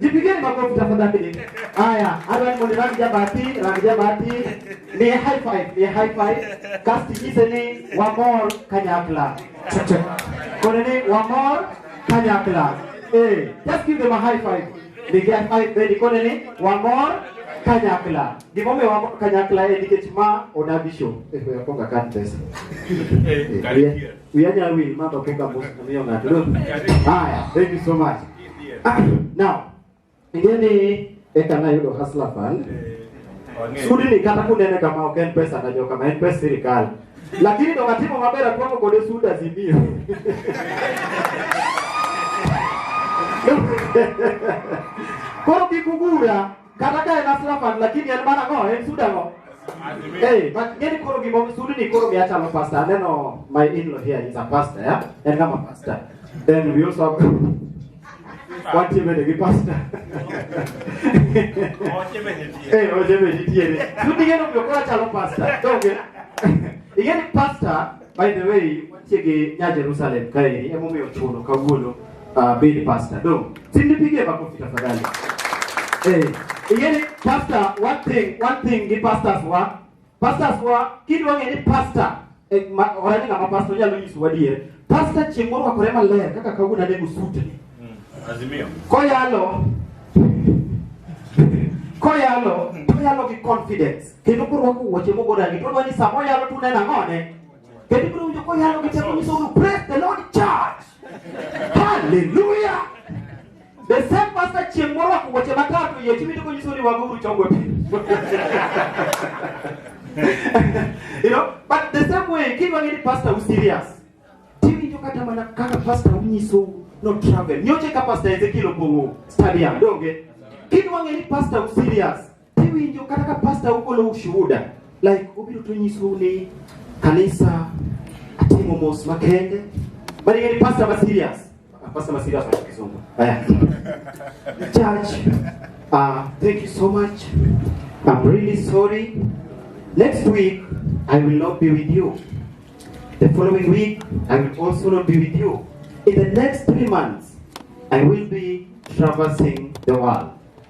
Jipigeni makofi tafadhali. Haya, hata ni rangi ya bahati, rangi ya bahati. Ni high five, ni high five. Cast kise ni one more kanyakla. Kone ni one more kanyakla. Eh, just give them a high five. Ni high five ready kone ni one more kanyakla. Ni mome one more kanyakla eh dikechima onabisho. Eh, kwa konga kantes. Eh, Uyanya wi mama punga boss na mimi ngato. Haya, thank you so much. Ah, now, ingeni eka na yudo hustler fund. Sudi ni kata kunene kama ok en pesa na joka ma en pesa sirikal. Lakini ndo katimo mabera kwa kwa kode suda zimio. Koro kikugura Kata ka en aslapan lakini en mana ng'o en suda ng'o. Hey, but ngeni koro gimo sudi ni koro mi achalo pastor. Aneno my in-law here is a pastor, yeah? En kama pastor. Then we also have What you made a pastor? Hey, oje me ditiere. Sudi ngeno mi okora chalo pastor. Toge. Ingeni pastor By the way, wantie gi nya Jerusalem kaeri emomiyo ochuno kawuono uh, bed pastor. Dong, simni pigie makofi tafadhali. Eh, ingeni pastor, one thing, one thing gi pastors wa, pastors wa kidwa ng'e ni pastor eh, ma, orani ng'ama pastor nyalo nyiso wadier. Pastor chieng' moro wakore maler kaka kawuono anego sutni. Azimio. Koyalo koyalo toyalo gi confidence kendo korwako wuoche mogo rangi to dwani sama oyalo tune nang'one kendo ibiro winjo koyalo gi teko nyiso uru praise the lord church hallelujah the same pastor chieng' morwako wuoche matatu yie tiwinjo konyiso ni wago uru chongo pi you know but the same way kidwa ng'e ni pastor u serious tiwinjo kata mana kaka pastor unyiso no travel nyoche ka pastor ezekiel opong'o stadium donge kidwa ng'e ni pastor u serious Iwinjo kata ka pasta ugolo ushuhuda like ubiro to nyisou ni kanisa atimo mos makende bali ng'eni pasta ma serious Ah, pasta ma serious wacho kizungu Aya. church uh, thank you so much I'm really sorry next week I will not be with you the following week I will also not be with you in the next three months I will be traversing the world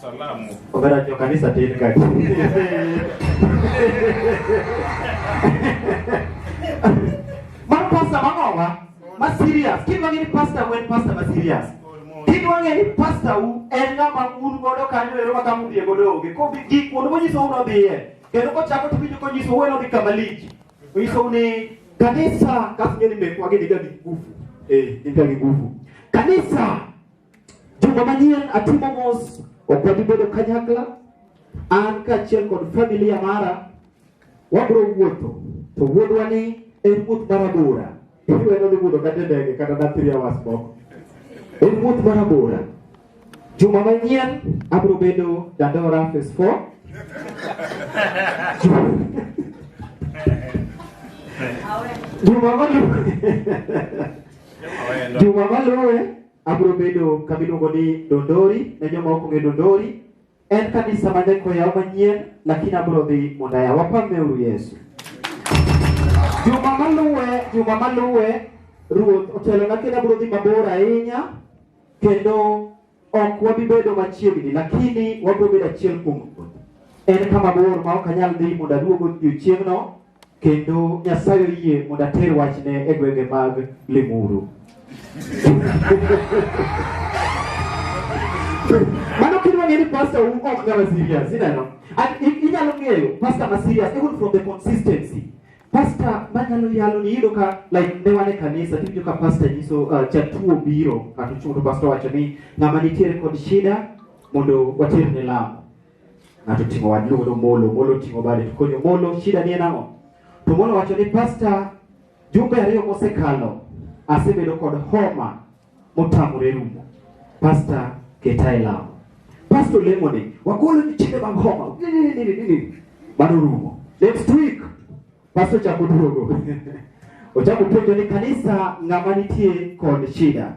Salamu. Obera jo kanisa tin ka. Mar pastor mangowa ma serious. Kin wang'e ni pastor wen pastor ma serious. Kin wang'e ni pastor u en ng'ama un godo kanyo ero ma kama udhiye godo onge. Ko bi gik kuonde monyiso uno dhiye. Kendo kochako to winjo konyiso ueno dhi kama lich. Onyiso ni kanisa kas ng'e ni mekwa gin ga gi nguvu. Eh, gin ga gi nguvu. Kanisa Juma manyien atimo mos, ok wabi bedo kanyakla. An kaachiel kod familia mara wabiro wuotho, to wuodhwa ni en wuoth mar abora. Iwe nodhi budho kata e ndege kata na three hours moko. En wuoth mar abora. Juma manyien abiro bedo Dandora phase 4. Juma maluwe. Juma maluwe. Abiro bedo kama iluongo ni Dondori, ne joma ok ong'e Dondori. En kanisa ma nyaka oyaw manyien, lakini abiro dhi mondo ayaw. Wapameuru Yesu. Juma maluwe, juma maluwe, Ruoth otelona kendo abiro dhi mabor ahinya, kendo ok wabi bedo machiegni, lakini wabiro bedo achiel kuom Ruoth. En kama bor ma ok anyal dhi mondo aduog odiechieng'no, kendo Nyasaye oyie mondo ater wachne e gwenge mag Limuru. Mano kitu ngeni pastor who ok kama serious, ineno? And inyalo ng'eyo pastor ma serious even from the consistency. Pastor manyalo yalo ni iyudo ka like ne wane kanisa tiwinjo ka pastor nyiso uh, jatuo biro kata chuo to pastor wacho ni ng'ama nitiere kod shida mondo water ne lamo. Ng'ato oting'o wad luongo ni Omolo, Omolo oting'o bade to konyo Omolo, shida ni en ang'o? To Omolo wacho ni pasta, jumbe ariyo mosekalo asebedo kod homa motamore rumo. Pasta keta e lamo. Pasta olemo ni wagolo nyithindo mag homa. Ni, ni, ni, ni, ni, ni. Mano rumo. Next week pasta ochako duogo. ochako penjo ni kanisa ng'ama nitie kod shida.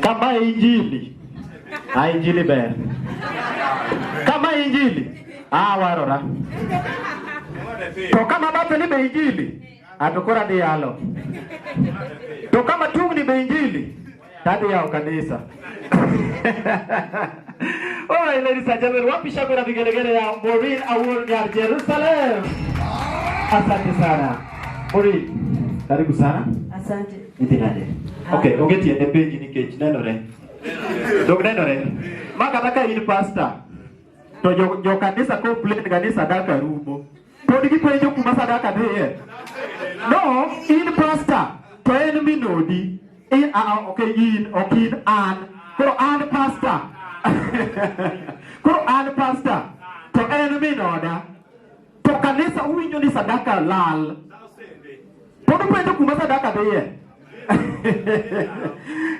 Kama injili a injili ber kama injili a warora to kama bathni be injili ato koro adhi yalo to kama tungni be injili to adhi yawo kanisa All right, ladies and gentlemen, wapi shangwe na vigelegele ya Maureen Awuor Nyar Jerusalem. Asante sana Maureen, karibu sana. Asante. Idhi nade? Okay, onge tiende penji nikech nenore. Dok nenore. Ma kata ka in pastor to jo, jo kanisa complain kanisa daka rumo. Pod gipenjo kuma sadaka dhiye. No, in pastor to en minodi. In, uh, okay, in, ok in, an. Koro an pastor. Koro an pastor to en minoda. To kanisa uwinjo ni sadaka lal. Pod upenjo kuma sadaka dhiye.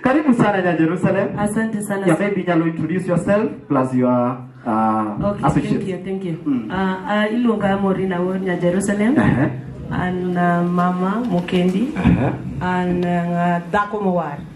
Karibu sana ya Jerusalem. Asante sana. Yeah, maybe you introduce yourself plus your uh, okay, associate. Thank you, thank you. Mm. Uh, uh, Ilunga Morina Wonya Jerusalem. Uh -huh. And uh, Mama Mukendi. Uh -huh. And uh, Dako Mowar.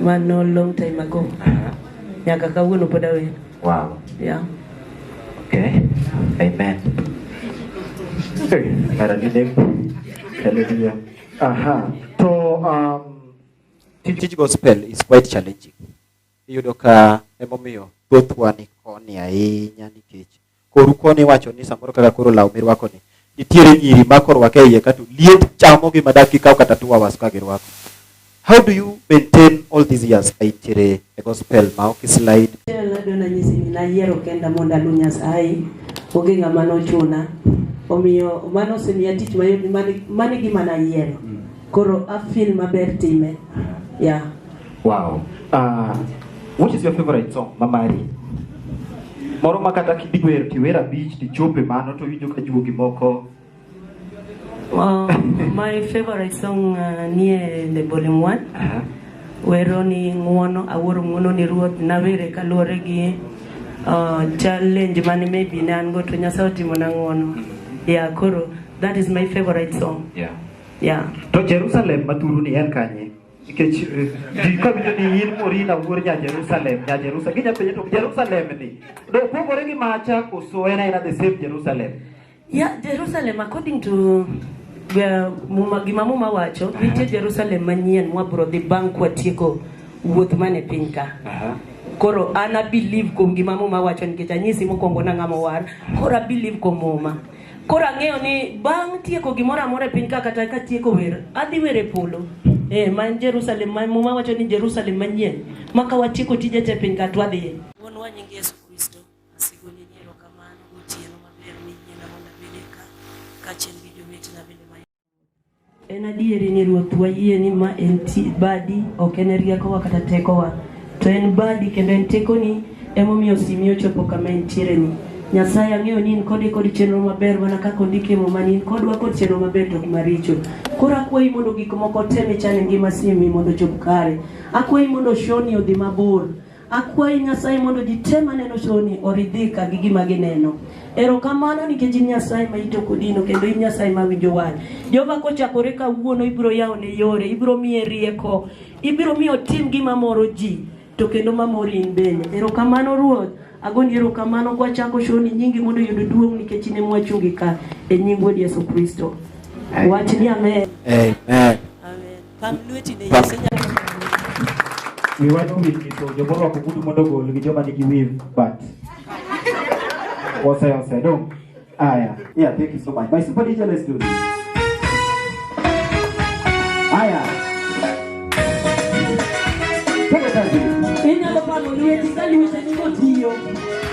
Mano long time ago. Aha. Nyaka kawuono pod awendo. Wow. Yeah. Okay. Amen. Mara nini? Hallelujah. Aha. To um, tij gospel is quite challenging. Iyudo ka emomiyo thothwa ni koni ahinya nikech Koru koni iwacho ni samoro kaka koro law mirwako ni nitiere nyiri ma korwake e iye kato liet chamo gi madak kikaw kata two hours ka girwako. How do you maintain all these years ka intiere e gospel ma ok slide? Nado nanyisi ni nayiero kenda mondo alu Nyasaye onge ng'ama nochuna omiyo mano osemiya tich mayot mani gima nayiero koro afil maber time ya yeah. Wow. Uh, which is your favorite song, Mamari? Moro ma kata kidiwer tiwer abich tichope mano to winjo ka juogi moko. Wow, my favorite song uh, nie The Bowling One. Uh -huh. Wero ni ng'uono, awuoro ng'uono ni ruoth, nawere kaluwore gi uh, challenge mane maybe ne an go to Nyasaye otimo na ng'uono. Mm -hmm. Yeah, koro that is my favorite song. Yeah. Yeah. To Jerusalem mathuru ni en kanye? nikech eh, ji ka winjo ni in Morina wuod nya Jerusalem nya Jerusalem ginya penjo to Jerusalem ni do pogore gi macha koso en aina the same Jerusalem yeah Jerusalem according to uh, muma gima muma wacho uh -huh. nitie Jerusalem manyien mwabro dhi bang' kwatieko wuoth mane piny ka uh -huh. koro an abelieve kuom gima muma wacho nikech anyisi mokwongo nang'ama war koro abelieve kuom muma Koro ang'eyo ni bang' tieko gimoro amora e piny ka kata ka tieko wer, adhi wer e polo. Eh, ma en Jerusalem, ma muma wacho ni Jerusalem manyien, ma ka watieko tije te piny ka to wadhiye. Wuonwa nying Yesu Kristo, asigoni ni erokamano gotieno maber miyiena mondo abedie ka, kaachiel gi jowetena bende ma En adieri ni Ruoth wayie ni ma en badi, ok en riekowa kata tekowa, to en badi kendo en tekoni emomiyo simi ochopo kama entiere ni. Nyasaye ang'eyo ni in kode kod chenro maber mana kaka ondik e muma ni in kodwa kod chenro maber to ok maricho. Koro akwayi mondo gik moko te michano e ngima simi mondo ochop kare. Akwayi mondo shoni odhi mabor. Akwayi Nyasaye mondo ji te maneno shoni oridhika gi gima gineno. Erokamano nikech in Nyasaye ma ito kodino kendo in Nyasaye ma winjo wach. Jehova kochakore kawuono ibiro yawo ne yore, ibiro miye rieko, ibiro miyo tim gima moro ji to kendo ma mori in bende. Erokamano Ruoth, agoni erokamano kwachako shoni nyingi mondo yud duong' nikech in ema wachungi ka e nying Wuod Yesu Kristo. Wach ni amen. Amen. Pam lweti ne Yesu nyaka. Wi wach owil nyiso joma orwako ogudu mondo ogol gi joma nigi wiv bat. Ose ose dong. Aya. Yeah, thank you so much. My super DJ, let's do this. Aya. Twende kazi. Inyalo pamo lweti ka lweteni kotiyo.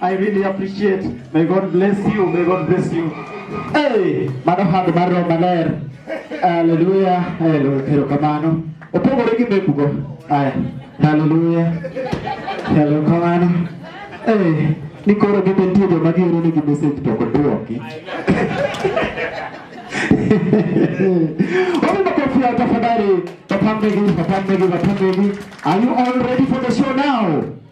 I really appreciate. May God bless you. May God bless you. Hey, mano hand mar roho maler. Hallelujah. Hallelujah. Kero kamano. Opogore gi mekugo. Aya. Hallelujah. Kero kamano. Hey, ni koro gite nitie joma gioro ni gi message to ok dwoki. Wapi makofi ya tafadhali. Wapambegi, wapambegi, wapambegi. Are you all ready for the show now?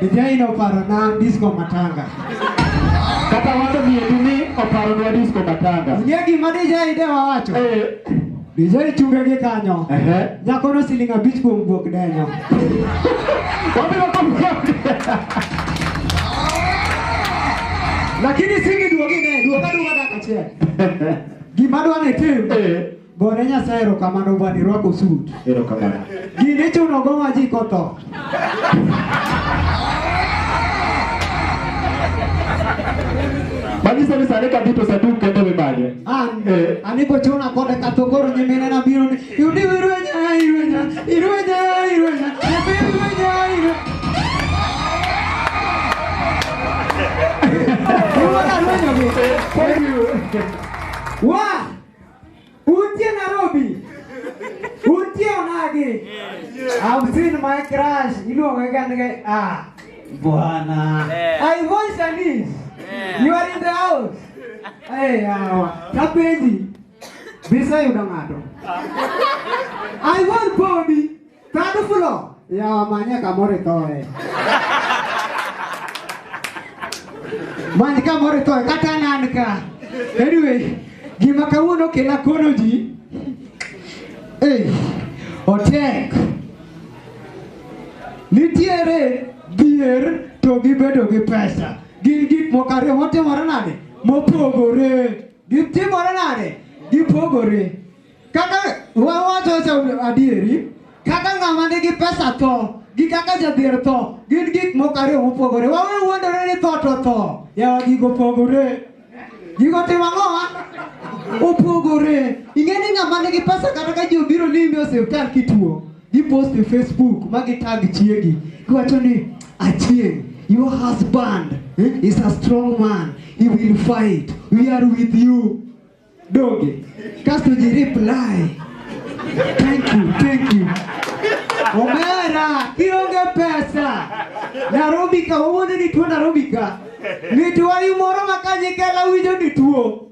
Dijai no paro na disco matanga. Kata wacho ni edu ni oparo nwa disco matanga. Ng'e gima dijai de wawacho. Eh, Dijai chunge gi kanyo. ehe. Nyako no siling abich kuom guok denyo. Wabiro kumkuok. Lakini singi duogi ne, duoga duoga dakika achiel. Gima dwa ni tim, Eh, Gore Nyasaye erokamano bwana irwako suit. Erokamano. Gini ichuno go ma ji kotho. Manyiso ni sani ka duto saduk kendo mimanye. An, Eh. an ibochuna kode kato koro nyimine na biro ni yudi irwenya, irwenya, irwenya, irwenya, nyathi irwenya, irwenya. Iwuoda rwenyo gi. Thank you. Wa! Untie Nairobi. Untie Onagi. I've seen my crush. Iluongo gani ah. Bwana. I voice Anis. You are in the house. Hey, hawa. Kapenji. Bisa yudo ng'ato. I want Bobby. Kadu fulo. Ya wamanya kamore toye. Mani kamore toye kata nanka. Anyway, gima kawuono kela kono ji. Eh, otek. Nitiere dhier to gibedo gi pesa. Gin gik moko ariyo motimore nade? Mopogore. Gitimore nade? Gipogore. Kaka wawacho adieri, kaka ng'ama nigi pesa tho gi kaka jadhier tho gin gik moko ariyo mopogore. Wawe wuondore ni tho to tho. Yawa gigo pogore. Gigo timo ang'owa? Opogore. Ing'e ni ng'ama nigi pesa kata ka ji obiro limi osiptal kituo. Gipost e Facebook ma gitag chiegi. Giwacho ni achieng' your husband eh, is a strong man. He will fight. We are with you. donge kasto ji reply thank you thank you omera kionge pesa narobi ka wawuonde ni tuo narobi ka mitwayi moro ma ka nyikela winjo ni tuo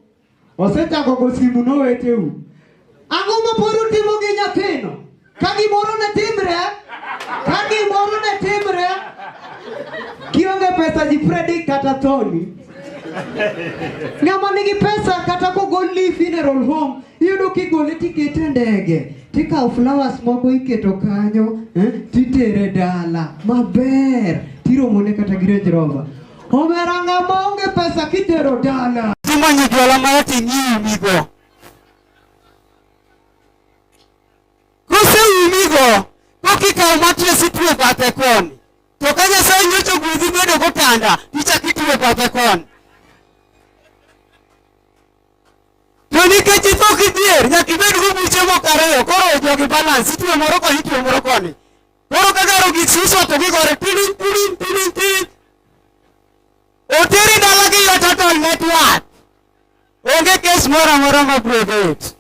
osechako go simu noweteu ang'o ma pod utimo gi nyathino Ka gimoro ne timre, ka gimoro ne timre, kionge pesa ji predi kata thoni. Ng'ama nigi pesa kata kogol li funeral home, iyudo kigole tikete e ndege, tikawo flowers moko iketo kanyo, eh, titere dala maber, tiromone kata gi Range Rover. Omera ng'ama onge pesa kitero dala. Tumanyo jwala marati nyimigo. Ko seumigo, pok ikawo matres ituwe bathe koni. To ka Nyasaye nyocho gwedhi bedo gotanda, ichak ituwe bathe koni. To nikech itho kidhier, nyaka ibed gobuche moko ariyo, koro jogi balance, ituwe moro koni, ituwe moro koni. Koro ka garo gik suso to gigore tirin, tirin, tirin, tirin. Oteri dalagi yot atol network. Onge kes moro amora ma biro bet.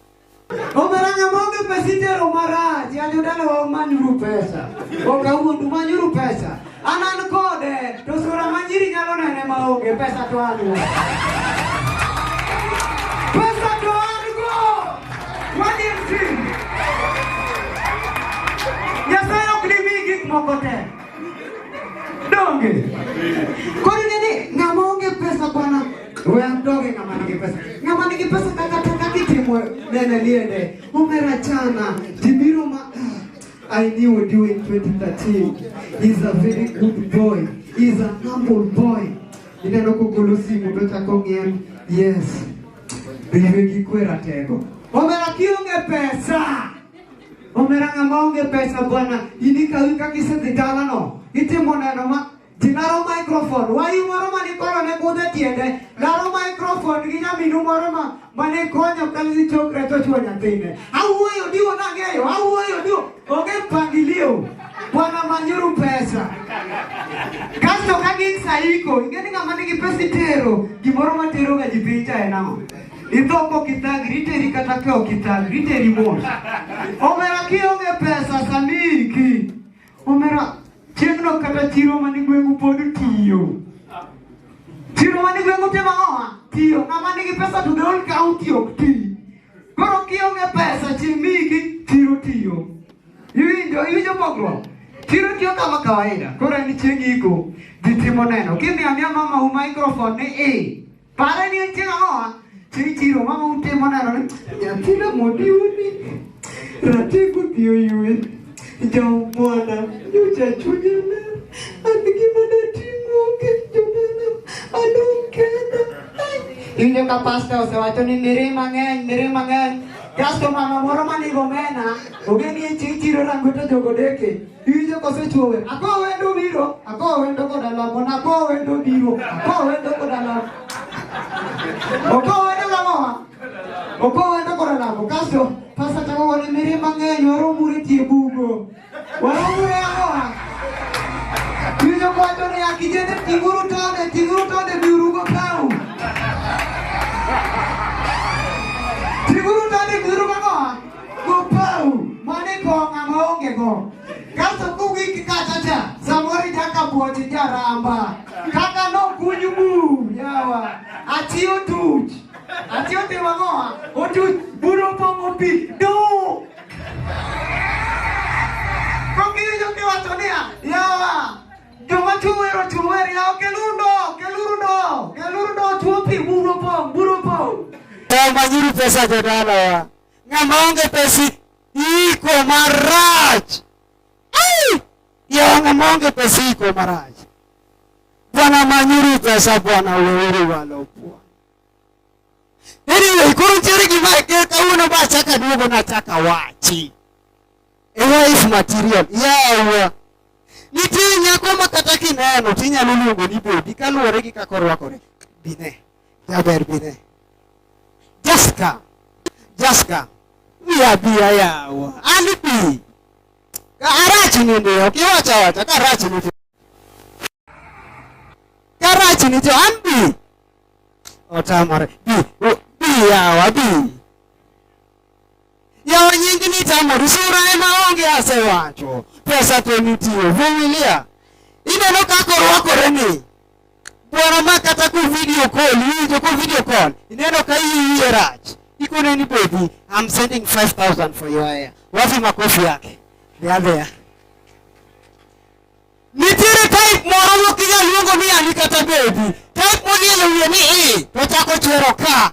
Omera nyamonge pesa itero marach, yanyo dala wa umanyuru pesa. Oka uondu manyuru pesa. Anan kode, to sura manyiri nyalo nene maonge pesa to an go. Pesa to an go. Wadi mtim. Nyasaye ok dimi gik moko te. Donge. Koro Wewe mdoge kama nige pesa. Kama nige pesa kaka taka kitimwe nene liende. Umera chana. Tibiro ma ah, I knew you in 2013. He's a very good boy. He's a humble boy. Ineno kugulusi mudo chako ng'em. Yes. Biwe gikwera tego. Omera kionge pesa. Omera ng'ama onge pesa bwana. Ini kawi kakise dhidala no. Itimo neno ma Ji laro microphone, wayi moro ma nikoro ne kudho e tiende, laro microphone gi nyaminu moro ma ma ne konyo kalisi chokre to chwo nyathine. Awuoyo diwo nang'eyo, awuoyo diwo, onge mpangilio. Bwana manyuru pesa. Kasto ka gin saiko, ing'e ni ng'ama nigi pesa itero, gimoro ma teroga ji piny cha en ang'o? Idho kok ithagri, iteri kata ka ok ithagri, iteri mos. Omera kionge pesa sani iki. Omera, chieng'no kata chiro man e gweng'u pod tiyo. Chiro man e gweng'u te mang'owa tiyo. Ng'ama nigi pesa to the whole county ok ti. Koro kionge pesa chieng' miyigi chiro tiyo. Iwinjo, iwinjo pogruok? Chiro tiyo kama kawaida. Koro en chieng' iko, ji timo neno. Kimiyo amiya mamau microphone ni i. Pare ni en chieng' ang'owa? Chieng' chiro mama ute moneno ni nyathina modiwo ni ratego dhi oywe. Jomwana nyocha chunye ne an gima natimo onge jomwana adong' kenda. Iwinjo ka pasta osewacho ni miri mang'eny miri mang'eny kasto mama moro manigo omena ogeni e chieng' chiro rango to jogo deke. Iwinjo kose chuowe. Akowo wendo biro, akowo wendo koda lamo, nakowo wendo biro, akowo wendo koda lamo. Okowo wendo lamo. Okowo wendo koda lamo. Kaso pasa chako wani miri mang'eny waromure tie bugo. Waromure ang'owa. Iwinjo kwacho ni akijende tinguru tonde, tinguru tonde biurugo kawu. Gopau, mane kong' ama onge go. Kaso kugik kata cha, samoro ichaka puonji jaramba. Kaka nokunyu bu, yawa. Ati otuch. Ati otimo ang'owa? Otuch, buru opong'o pi. Du! Kong'iyo kiwacho niya, yawa. Joma chuwero chuwer, yawa keluru ndo, keluru ndo, keluru ndo, chuo pi, buru opong', buru opong'. Tawagiri pesa jodalawa. Ng'ama onge pesa iko marach. Yawa ng'ama onge pesa iko marach. Bwana manyuru pesa Bwana weuru walo Bwana. Anyway, koro nitiere gima kawuono ba achaka duogo nachaka wachi. A wife material. Yawa. Nitie nyako ma kata kineno tinyalo luongo ni bodi kaluwore gi kaka orwakore. Bine. Jaber bine. Just come. Just come. Wiya biya yawa. An bi. Ka arach ni ndi ok iwacho awacha ka arach ni ndi. Ka arach ni ndi an bi. Otamore. Bi. Bi yawa bi. Yawo nyingi ni tamori sura ema onge asewacho. Pesa to nitie. Vumilia. Ineno kaka orwakore ni. Bwana ma kata ku video call, iwinjo ku video call. Ineno ka iyiye rach. Iko neni baby, I'm sending 5000 for your hair. Wapi makofi yake? They are there. Nitiere type moro mokinya luongo ni ani kata baby. Type monielo wiye ni i, to chako chwero ka.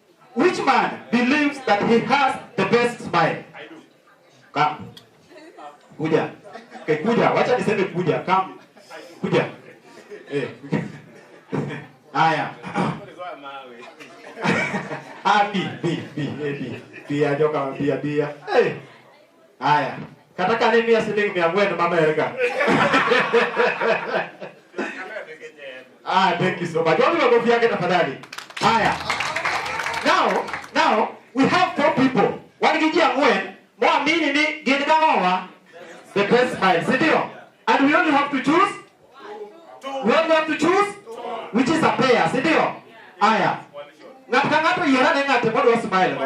Which man believes that he has the best smile? I do. Come. Kuja. Okay, kuja. Wacha niseme kuja. Come. Kuja. Eh. Haya. Ah, B, B, B, A, B. B, ajoka, B, B. Eh. Haya. Kata kane miya siling mia ang'wen mamerga. Ah, thank you so much. Wapi makofi yake tafadhali? Haya. Now, now we have four people. Wan gi ji ang'wen moamini ni gin gang'owa the best smile, si ndio? And we only have to choose We only have to choose which is a pair, si ndio? Aya. Ng'ato ka ng'ato yier ane ng'ate modwa smile go.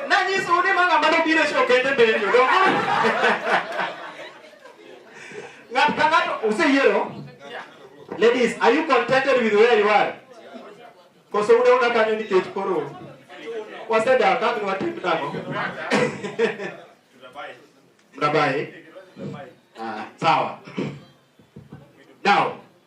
Nanyisou ni ma ng'ama nobiro e show kende be yudo. Ng'ato ka ng'ato useyiero. Ladies, are you contented with where you are? Koso ude una kanyo nikech koro wasedak kaka ni watim nang'o? Mnabai? Ah, sawa. Now,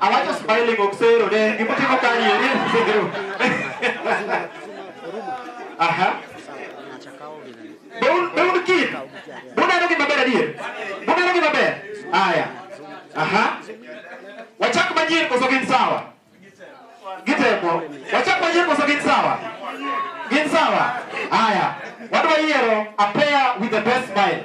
Awacho smiling ok sero ne gima timo kani eri sero. Aha. Beun beun kit. Buneno gima ber adier. Buneno gima ber. Aya. Aha. Wachak manyien koso gin sawa? Gitemo. Wachak manyien koso gin sawa? Gin sawa. Aya. Wadwa yiero a pair with the best smile.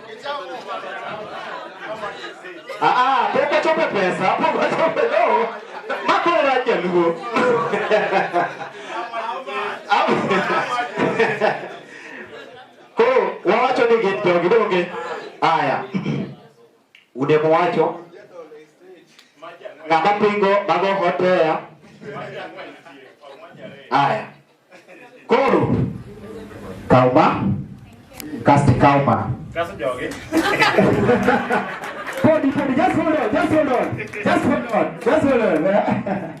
Ah, ah, pok ochopo pesa, pok ochopo no. Makoro rach jaluo. Koro wawacho ni gin jogi donge. Aya. Ude mowacho ng'ama pingo mago hotea. Aya. Koro kaw ma kasti kaw ma. Kaso jogi. Podi podi just hold on just hold on just hold on just hold on.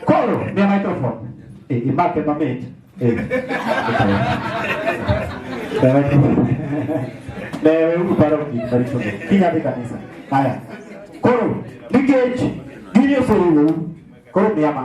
Koro ni microphone. Eh imake mamit. Eh. Lewe uru paro gik maricho. Kinya dhi kanisa. Haya. Koro nikech gini oseriwou koro miya ma.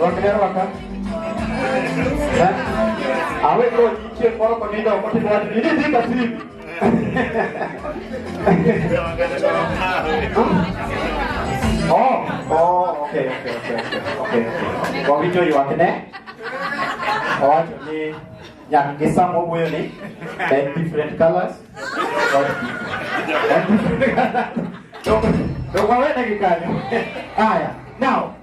Wakilero waka. Awe ko nitie moro ko nindo ko timo wadi ni ni kasi. Oh, oh, okay, okay, okay, okay, okay. Ko video yuak ne. Oh, ni yang gisa mo buyo ni. Ten different colors. Ten different colors. Ndio kwa wewe dakika. Haya. Now,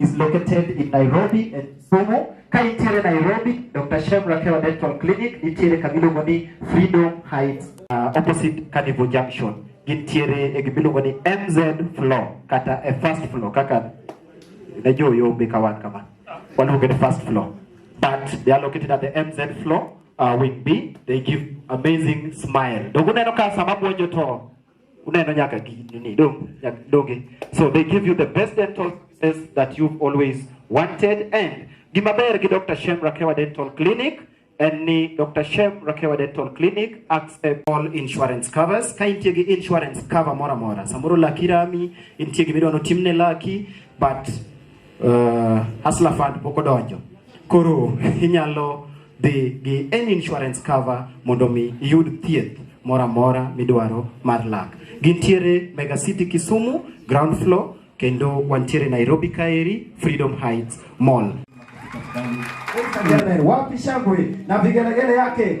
is located in Nairobi and Kisumu. Ka intiere Nairobi, Dr. Shem Rakewa Dental Clinic nitiere kama iluongo ni Freedom Heights uh, opposite Carnival Junction. Gintiere e gima iluongo ni MZ floor kata e first floor kaka ne jo yombe ka wan kama. Waluonge ni first floor. But they are located at the MZ floor uh, wing B. They give amazing smile. Dogo neno ka sama buonjo to unaenda nyaka nini do nyaka doge so they give you the best dental services that you've always wanted and gimaber gi Dr. Shem Rakewa Dental Clinic and ni Dr. Shem Rakewa Dental Clinic accept all insurance covers ka intie gi insurance cover mora mora samoro laki rami intie gi midwano timne laki but uh, Hustler Fund pok odonjo. Koro inyalo dhi gi any insurance cover mondo mi iyud thieth moro amora midwaro mar lak. Gintiere Mega City Kisumu ground floor kendo wantiere Nairobi kaeri Freedom Heights Mall. Wapi shangwe na vigelegele yake?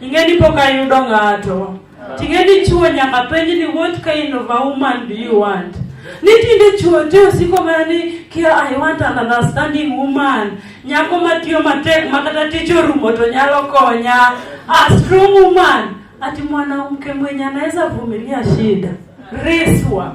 Ing'e ni pok ayudo ng'ato. Ting'e ni chuo nyaka penj ni what kind of a woman do you want? Ni tinde chuo te osiko mana ni kia I want an understanding woman. Nyako matiyo matek ma kata tich orumo to nyalo konya. A strong woman. Ati mwanamke mwenye anaweza vumilia shida. Reswa.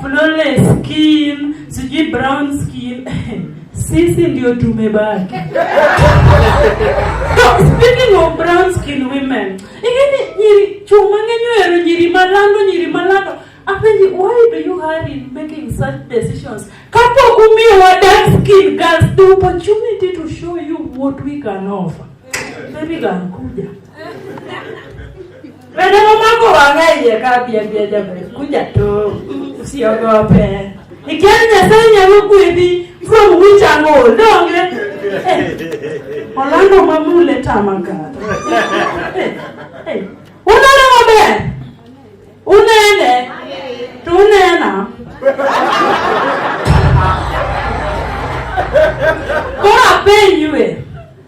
flawless skin, sijui brown skin sisi ndio tumebaki. Speaking of brown skin women, ingeni nyiri chuma ngenyo ero nyiri malando nyiri malando Apenji, why do you hurry in making such decisions? Kapo kumi wa dark skin girls, the opportunity to show you what we can offer. Baby girl, kuja. Wende mamako wang'a iye ka pien pien jamani, kuja tu, usiogope. Ikiwa Nyasaye nyalo gwedhi, mfua muwicha ang'o, donge? Eh, Orlando mamule tama kata. Eh, eh, Uneno maber? Unene? To unena? Koro apenjue.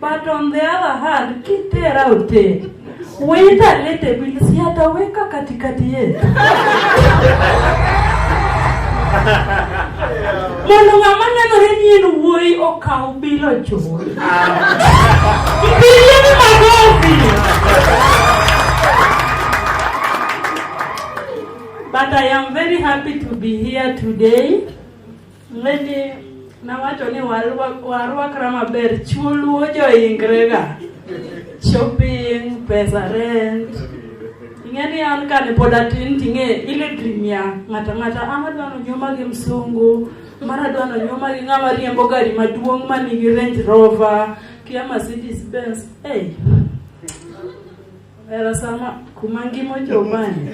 But on the other hand, kitera ute. Weta lete bilisi hata weka katikati yetu. Mondo ng'ama nenore ni en wuoyi okaw bilo chuo. Mpigie ni magofi. But I am very happy to be here today. Lendi nawacho ni warwakra maber, chuo luo joingrega shopping, pesa rent. Ing'eni an kane pod atin ting'e ile trimia ng'ata ng'ata ama ah, dwano nyoma gi msungu mara dwano nyoma gi ng'ama riembo gari maduong' manigi Range Rover kia Mercedes Benz. Hey. Era sama kuma ngima ochopani.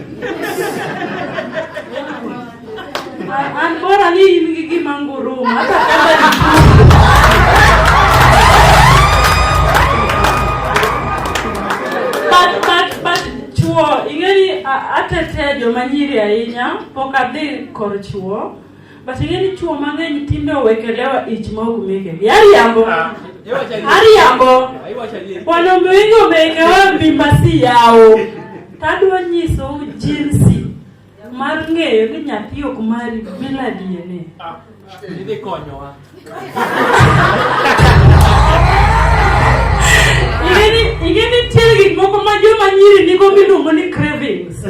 An bora ni in gi gima nguruma hata kama ni But, but, but chuo ing'eni a- atetea joma nyiri ahinya pok adhi kor chuo But ing'e ni chuo mang'eny tinde owekelewa ich ma ok meke. Yariambo. Ah, Ariambo. Wanaume wengi wamewekewa mimba si yao. Tadwa nyiso jinsi mar ng'eyo ni nyathi ok mari bila DNA. Ah, ing'e ni nitie gik moko ma joma nyiri nigo miluongo ni cravings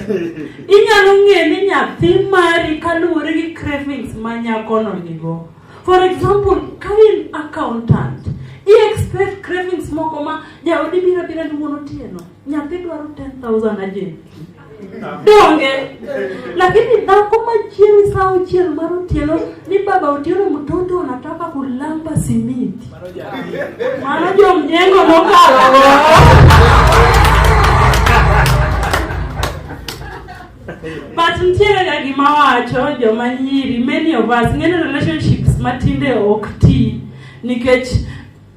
inyalo ng'e ni nyathi mari kaluwore gi cravings ma nyakono nigo for example ka in accountant i expect cravings moko ma jaodi biro bira ni wuon otieno nyathi dwaro 10000 ajenti donge lakini dhako machieng' saa auchiel mar otieno ni baba otieno mtoto anataka kulamba simiti mano jomjengo mokalo but ntiere ga gima wacho joma nyiri many of us ng'eny relationships matinde ok ti nikech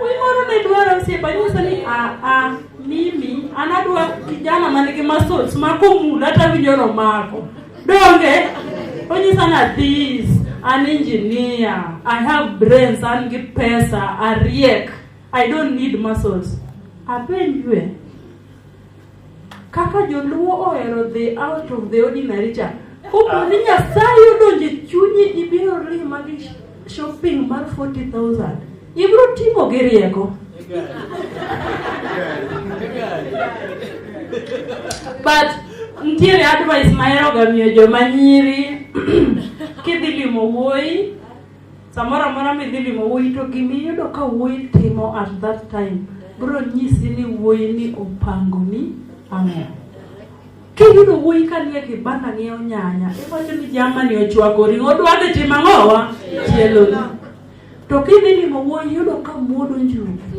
Wimoro ne dwaro osiepa nyiso ni a a mimi anadwa kijana man gi muscles ma komula to awinjo romako. Donge onyisa na this an engineer, I have brains, an gi pesa, ariek. I don't need muscles. Apenjwe. Kaka joluo ohero the out of the ordinary cha. Kopo ni Nyasaye odonje chunyi ibiro rima gi shopping mar 40,000. Ibiro timo gi rieko. But ntiere advice mahero ga miyo joma nyiri kidhi limo wuoyi Samoro amora midhi limo wuoyi to gima iyudo ka wuoyi timo at that time bro nyisi ni wuoyi ni opango ni ang'o. Kiyudo wuoyi ka nie kibanda ng'iewo nyanya, iwacho ni jamani ochwakori, odwa dhi timo ang'owa? Chielo. To kidhi limo wuoyi yudo ka muodo njugu.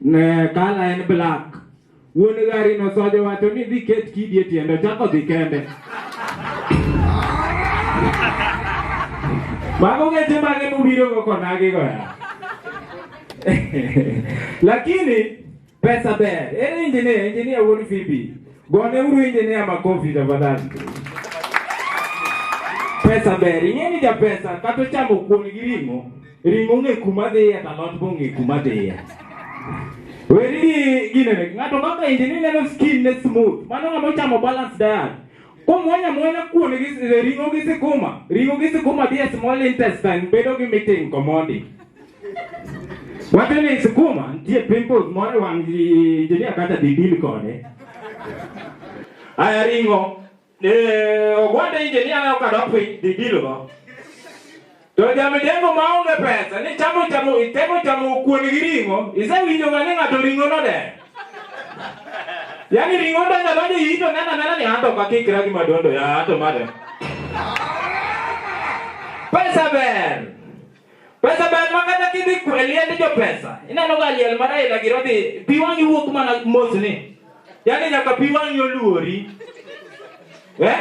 Ne kala en black. Wuon gari no sojo wacho ni dhi ket kidi e tiende chako dhi kende. Mago geche mage mubiro go konagi go ya. Lakini pesa ber. Ere injinia, injinia wuon Fibi. Gone uru injinia makofi tafadhali. Pesa ber. Ing'eni ja pesa kata chamo kuon gi ring'o. Ring'o ong'e kuma dhiye to alot be ong'e kuma dhiye. Weri gi ginene, ng'ato kaka indi ni neno skin ne smooth, mano ng'ama ochamo balanced diet. Kumwanya mwanya kuon gi s- ring'o gi sikuma, ring'o gi sikuma dhiye small intestine bedo gi meeting commodity. Wacho ni sikuma nitie pimples moro e wang' ji- injinia kata didil kode. Aya ring'o Eh, ogwanda inje ni aneno ka dok piny dhi bilo ma. To jamidengo ma onge pesa ni chamo chamo itemo chamo kuon gi ring'o isewinjo ga ni ng'ato ring'o no de. Yaani ring'o ndo nyalo ni yito nena nena ni anto ka kikra gi madondo ya anto made. Pesa ber. Pesa ber ma kata kidhi ku- e liend jopesa ineno ga liel ma Raila giro dhi pi wang'i wuok mana mos ni yaani nyaka pi wang'i oluori eh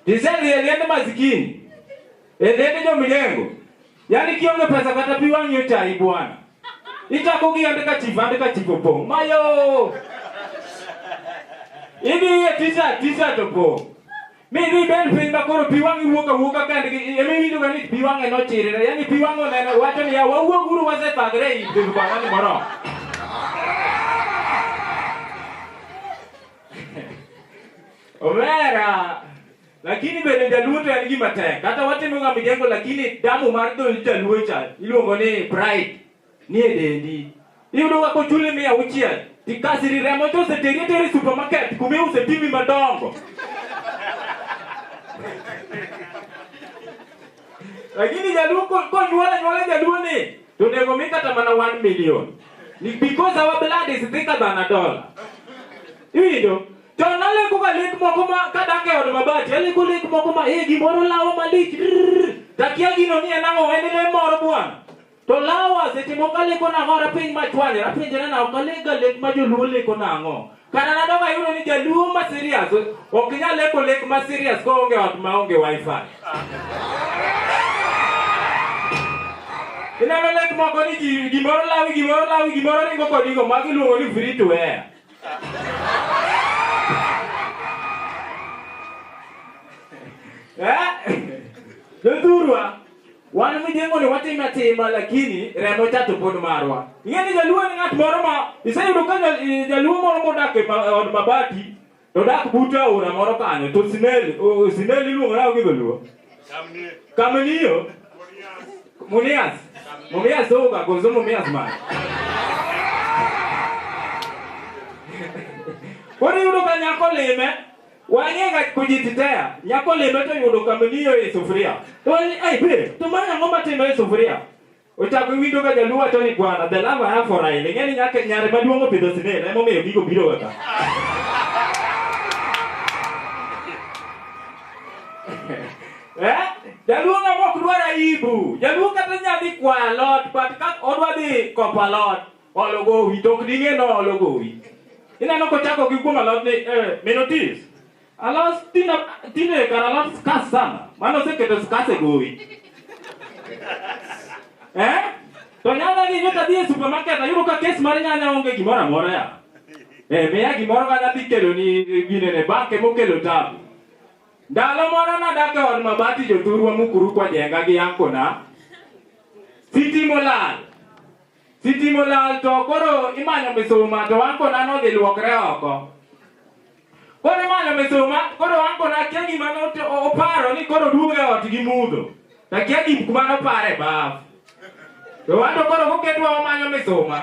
tisedhi e liend masikini e liend jomilengo yaani kionge pesa kata pi wang'i ochayi bwana itako gi andika chief andika chief opong' mayo idhi e tisa tisa to pong' Mi ni ben piny ma koro pi wang'i wuok awuoka kendgi ema iwinjoga ni pi wang'e nochirre yani pi wang'e oneno wacho niya wawuog uru wasethagre ei dhood bang'ani moromo omera lakini bende jaluo to en gima tek kata watimoga mijengo lakini damu mar dhood jaluo cha iluongo ni pride nie dendi. Iyudo ka kochuli mia auchiel, tikasiri remo to oseteri ateri e supermarket kuma iuse pimi madongo. Lakini jaluo ko- konyuol anyuola jaluo ni to onego mi kata mana 1 million. Ni- Because our blood is thicker than a dollar. Iwinjo? To naleko ka lek moko ma kadak e od mabati, aleko lek moko ma eh gimoro lawa malich. rrrr. Takia gino ni en ang'o, en le moro bwana. To lawa seche moko aleko nang'o ar apeny machwanyre apenjra na ok alega lek ma joluo leko nang'o kata nadog ayudo ni jaluo ma serious ok nyal leko lek ma serious koonge ot ma onge wifi ineno lek moko ni ji- gimoro lawi gimoro lawi gimoro ringo kodigo ma giluongo ni free to air Eh? Jodhurwa, Wan mijengo ni watime atima lakini remo cha to pod marwa. Ing'e ni jaluo en ng'at moro ma iseyudo ka ja- i- jaluo moro modak e ma- od mabati to dak but aora moro kanyo to sinel o- sinel iluongo nao gi dholuo. Kamniyo. Munias. Mumias oga kozo mumias man. Koro iyudo ka nyako lime Wang'e ga kujitetea. Nyako limbe to yudo kamiliyo e sufuria. To wani, ai be, to mara ang'o matimo e sufuria? Ochako winjo ga jaluo wacho ni bwana, the love I have for Raila. Ing'e ni nyaka nyare maduong' opidho sinel, emomiyo gigo biro ga ka. Eh? Jaluo ng'ama ok dwar aibu. Jaluo kata nya dhi kwa alot, but ka odwa dhi kopo alot, Olo gowi to ok ding'e noolo gowi. Ineno kochako gi kuom alot ni eh, minotis. Alos tina tine kar alot skas sana. Mano oseketo skas e gowi. Eh? To nyanya ni nyota dhi e supermarket ayudo ka kes mar nyanya onge gimoro amora ya. Eh, miya gimoro ka nadhi kelo ni gine ne banke mokelo tabu. Ndalo moro nadak e od mabati jothurwa mukuru kwa jenga gi yankona. Sitimo lal. Sitima olal to koro imanyo misuma to ankona nodhi luokre oko. Koro imanyo misuma, koro ankona akia gima note- o- oparo ni koro duogo e ot gi mudho. To akia gim kuma noparo e baf. To wan to koro koketwa wamanyo misuma.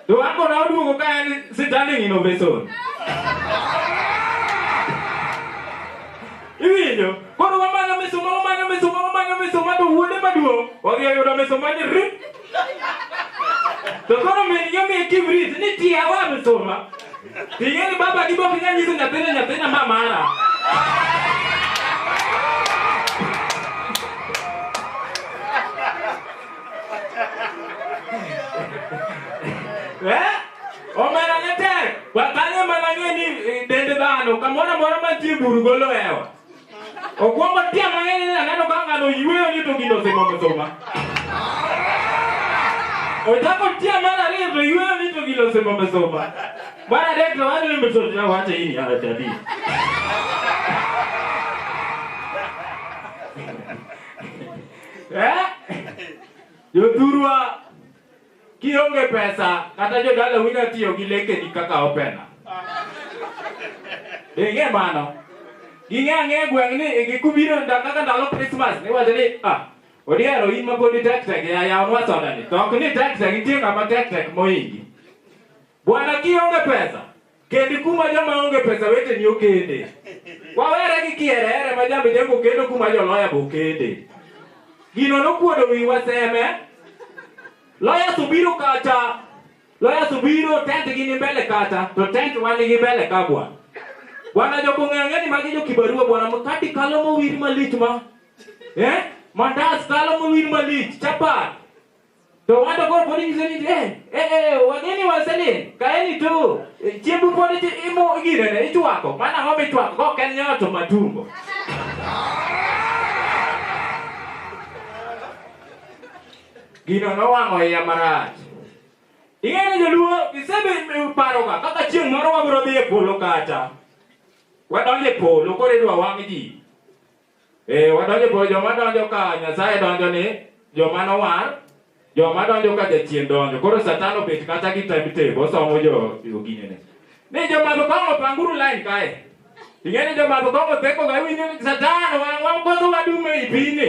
To ankona oduogo ka en standing innovation. Iwinjo? Koro wamanyo misuma, wamanyo misuma, wamanyo misuma to wuode maduong' odhi oyudo misuma ni rip To koro min yo mi tim rit ni ti awa mi soma. Ti ye ni baba di boki nyanyi sin nyathina nyathina ma mara. Eh? Omera ne tek. Wakanye mana ng'e ni eh, dend dhano kamoro amora mantie buru golo hewa. Okwongo tia mang'eny ni aneno ka ng'ano yueyo ni to gino osimo msuma. Ochako tia mar ariyo to yueyo ni to gino osimo msuma. Mar adek to wacho ni msuma na wacho hii ni ara jadi. Eh? Jothurwa Kionge pesa kata jodala wina tiyo gi lekeni kaka opena. Ing'e mano. Ging'e ang'e e gweng' ni e gikubiro nda kaka ndalo Christmas ni wacho ni ah odiero in ma podi tek tek ya yaw nwa soda ni. To ok ni tek tek nitie ng'ama tek tek moingi. Bwana kionge pesa Kendi kuma joma onge pesa weteni okende. Wawere gi kierere ma jambe jango kendo kuma joloya bo kende. Gino nokuodo wiwa seme. Loya subiro kata loya subiro tent gi ni mbele kata to tent wani gi mbele ka bwana. Bwana joko ng'ang'e ni magi jo kibarua bwana mkati kalo mowir malich ma. Eh? Mandas kalo mowir malich chapat. To ng'ato koro pod nyiso ni eh, eh, eh, wageni waselin, kaeni tu, eh, chiembu pod ichi- imo girene, ichwako, mana ang'o michwako, kok en nyoro to matumbo. Gino nowang'o iya marach. Ing'eyo ni joluo gisebedo paroga kaka chieng' moro wabiro dhi e polo kata. Wadonjo e polo koro idwa wang' ji. Eh, wadonjo po joma donjo ka Nyasaye donjo ni joma nowar, joma donjo ka jachien donjo. Koro Satan obet kata gi timetable osomo jo ogine ne. Ni joma to kongo panguru line kae. Ingeni joma to kongo peko ga winyo ni Satan wa wa koso wadume ipine.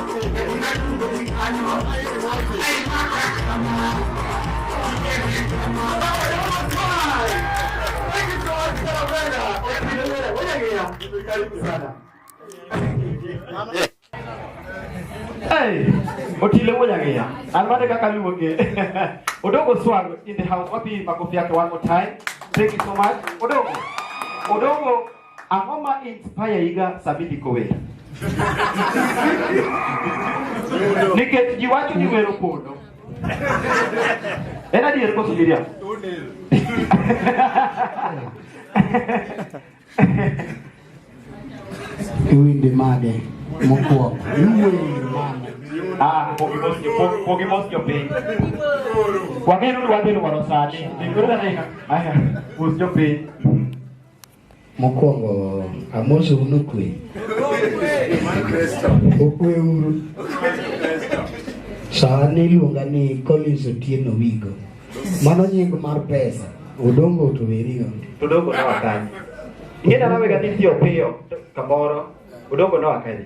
Otile moja gea. Almane kaka luonge. Odongo Swag in the house. Wapi makofi yake one more time. Thank you so much. Odongo. Odongo Ang'o ma inspire iga sama idhi kower? Nikech ji wacho ni wero pondo. En adier koso Miriam? Iwinde made mokwongo. Iwinde made. Ah, pogi mos jo pogi, pogi mos jo piny. Wang'eyo ni wadhi lwaro sani. Nikoro na ina. Aya, mos jo piny. Mokwongo amoso uno kwe. Okwe uru. Sani iluonga ni Collins Otieno Wigo. Mano nying mar pesa. Odongo otowerigo. Odongo na wakani. Ingena nawe gati piyo piyo kamoro. Odongo na wakani.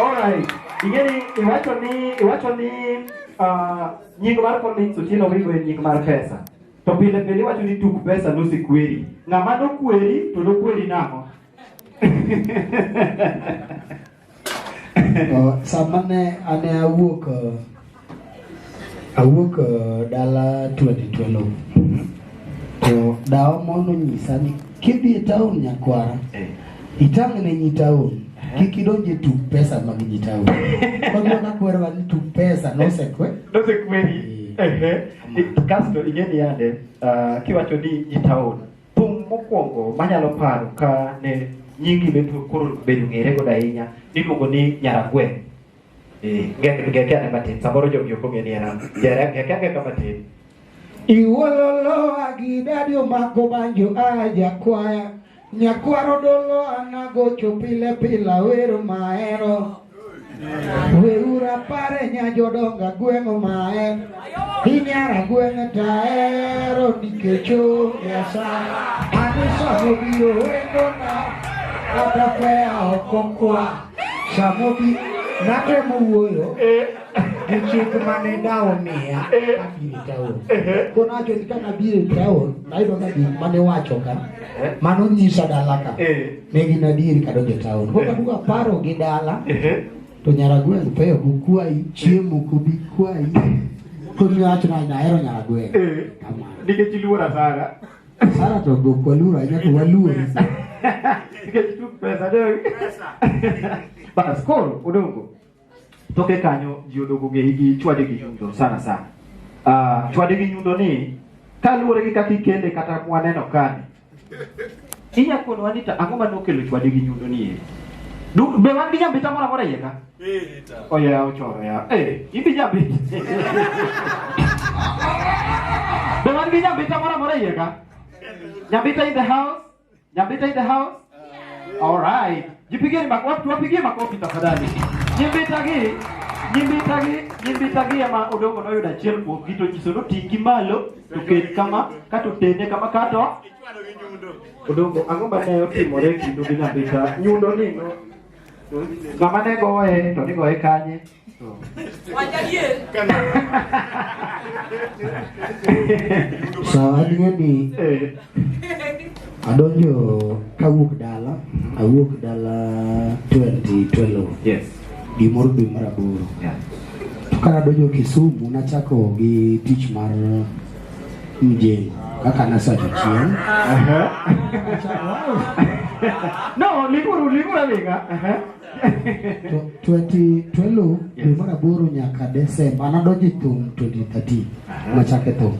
Alright. Ingeni iwacho ni iwacho ni uh, nying mar Collins Otieno Wigo en nying mar pesa. To pile pile iwacho ni tuk pesa nosikweri. Ng'ama nokweri to nokweri nang'o? Oh, sama ne ane awuok uh, Awuok uh, dala 2012 to dawa mono nyisa ni kidhi e taon nyakwara eh. itang' ne nyi taon kik idonj e tuk pesa mag nyi taon kagona kwerwa ni tuk pesa nosekwe nosekweri eh. kasto ing'eni yande uh, kiwacho ni nyi taon thum mokwongo manyalo paro ka ne nyingi bedo koro bedo ng'ere godo ahinya niluongo ni nyaragweng' Ngekiane matin, samoro jogi ok ong'e ni en an. Jere, ngekiane ka matin. Iwololo agidadi omako banjo a jakwaya nyakwaro dolo anagocho pile pila wero maero weura pare nya jodonga gweng'o maer inyara gweng'e taero nikech onge asara anisomo biro wendona kata kweya ok okwa Samobi natemo wuoyo gi chik mane dawo miya kabiro taon. Ko nacho ni kana biro taon, nayudo ka gik mane wacho ka mano nyisa dala ka. Ne gin adieri kadonjo taon. Ko kaduka paro gi dala to nyaragweng' peyo kukwayi, chiemo kubi kwayi. Ko miwacho na nahero nyaragweng'. Kamano. Nikech iluora sana. Sara to go kwa lura ina kwa lura. Nikech tu pesa dong. Bas koro odongo. Toke kanyo ji odongo ng'eyi gi chwade gi nyundo sana sana. Ah, chwade gi nyundo ni kaluwore gi kaka ikele kata mwaneno kani. Inya kono wanita ang'o ma nokelo chwade gi nyundo ni? e? Du- Be wan gi nyambita moro amora iye ka? Oya ochoro ya. Eh, idhi jabit. Be wan gi nyambita moro amora iye ka? Nyambita in the house? Nyambita in the house? All right. Jipigeni makofi, wapigie makofi tafadhali. Nyambita gi nyambita gi nyambita gi ama odongo no yuda chiel kuom gito nyiso no tingi malo to ket kama kato tende kama kato odongo ang'o ma ne otimore kindu gi nyambita nyundo ni no Ng'ama ne goye to ni goye kanye? Sawa ni adonjo kawuok dala awuok dala 2012 yes gimoro dwe mar aboro yeah. to ka adonjo Kisumu nachako gi tich mar mjeni kaka nasa jachien no liguru liguru aliga tweti twelu dwe mar aboro nyaka desemba anadonjo e thum 2013 machake thum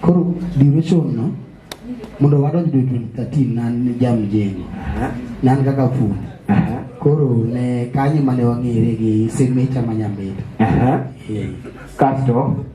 koro duration no mondo wadonj dwe 2013 nan jamjeni nan kaka fundi koro ne kanyo mane wang'ere gi semecha ma nyambeto kasto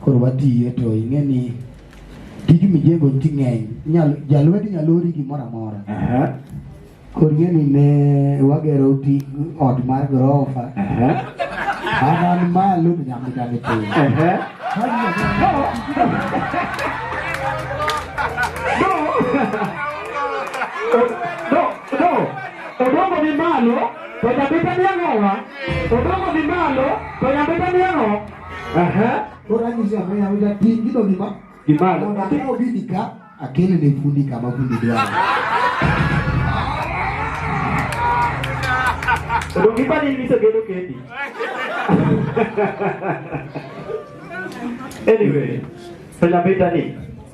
Koro watiye to ing'e ni tij mijengo nti ng'eny nyal jalwedi nyalori gimoro amora koro ing'e ni ne wagero ti ot mar gorofa anan malo to nyamditani piny odongo ni malo to nyamditani ang'owa odongo ni malo to nyamditani ang'o Aha. Oranyisi ambaye amida tingi do gima. Gima. Ona kama obidi ka akele ne fundi kama fundi do. Ndo gima ni niso gedo kendi. Anyway, so la beta ni.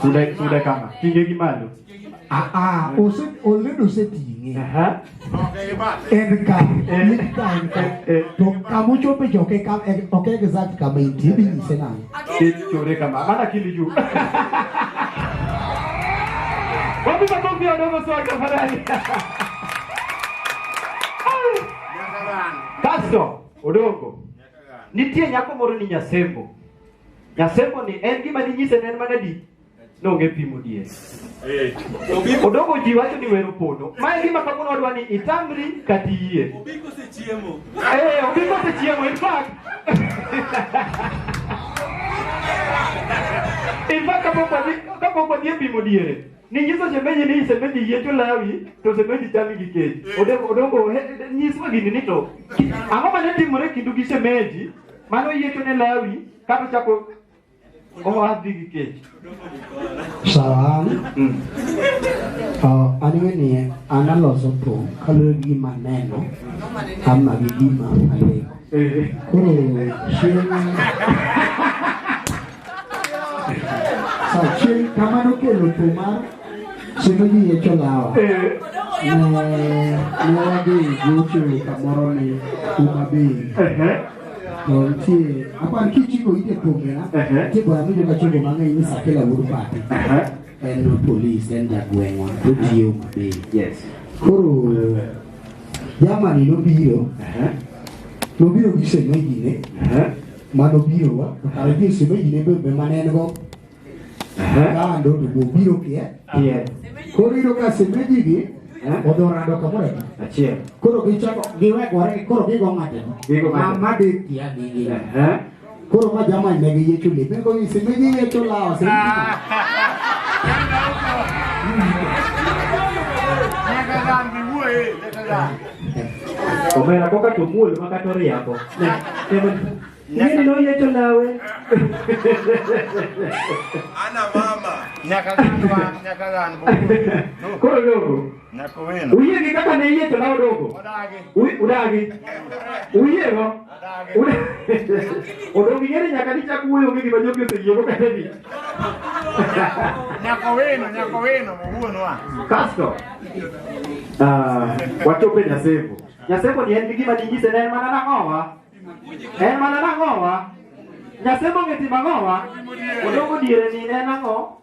Sude sude kama. Tinge gi malo. Ah ah, ose oledo se tinge. Aha. En ka, en ka en ka. To kamu chope joke kam en ok exact kama inti bi nyise na. Ke chore kama. Mana kili juu. Wapi makofi ya dogo soa kafarani. Kasto, odongo. Nitie nyako moro ni Nyasembo. Nyasemo ni en gima ninyise ne en mana di nonge pimo dier. Odongo ji wacho ni wero pono. Ma en gima kawuono wadwa ni itamri kata iyie. Obiko sechiemo. Eh, obiko sechiemo in fact. In fact kapok wadhi kapok wadhi e pimo diere. Ninyiso shemeji ni shemeji yiecho lawi to shemeji chami gi kech. Odongo odongo he- nyiswa gini ni to ang'o mane timore kindu gi shemeji Mano yiecho ne Lawi kata chako owadhi gi kech. Sawa an to anime ni an aloso thum kaluwore gi gima aneno ama gi gima aleko koro chieng' Sachien kama nokelo to mar chieng' ojiye cholawa ne ne wadhi gocho kamoro ni Homa Bay to nitie apar kichiko ite pongera nitie bora mi joka chogo mang'eny ni Sakela wuod Pati en polis en jagweng'wa to tiyo Homa Bay koro jamani nobiro nobiro gi semejine mano birowa to kare ji shemeji ne bebe mane en go kando to bo biro kie koro iyudo ka shemeji gi odhi orado kamoro achiel koro gichako giwegore koro gigo ng'ateno ma dhi kia gigi koro ma jamani ne giyiecho lepe ko ni shemeji yiecho lawa shemeji Omera koka to muol ma kata oriambo. Nini no yeto nawe? Ana mama. Nyaka ganwa, nyaka gan. Koro dogo. Nyaka wino. Uye gi kaka ne yeto nawe dogo. Udagi. Udagi. Uye go. Odong' gi ng'ere nyaka nichak wuoyo onge gima jogi oseyiego kata ni. Nyako wino, nyako wino, wuonwa. Kasto, ah, wachopo e Nyasembo. Nyasembo ni en gi gima dinyise ne en mana nang'owa. En mana nang'owa. Nyasembo ng'e timo ang'owa. Odongo diere ni ne en ang'o?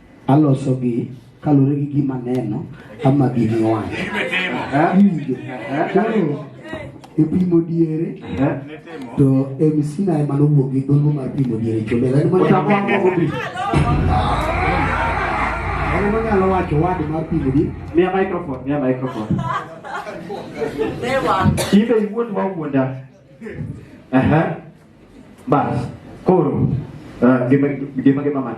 Aloso gi kalure gi gima neno ama gini wang'. Winjo. Koro e pimo diere to MC na ema nowuok gi dholo mar pimo diere chombe. Lani mana Utakuwa mbogo bi. Lani mana nyalo wacho wad mar pimo diere. Mia microphone, mia microphone. Ibe iwuon ma wuonda. Aha. Bas, koro uh, gima gima gima man.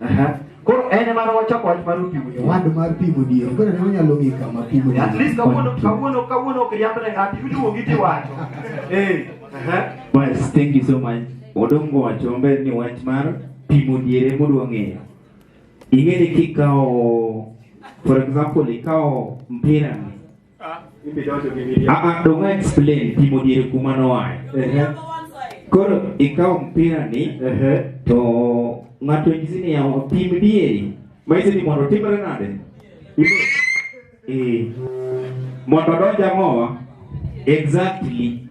Aha. Koro en ema wachako wach mar pimo ni wad mar pimo diyo. Koro ne wanyalo ng'i kama pimo ni. At least kawuono kawuono kawuono ok riamb ne ng'ato iduwo gi tiwacho. Eh. Aha. Bas, thank you so much. Odongo wacho maber ni wach mar pimo diere modwa ng'eyo. Ing'e ni kikawo for example ikawo mpira ni Aa, donge explain pimo diere kuma noaye. Koro ikawo mpira ni to ng'ato nyisi ni yawa pim dieri. Maisi ni mondo timre nade? Eh. Mondo donja mowa. Exactly.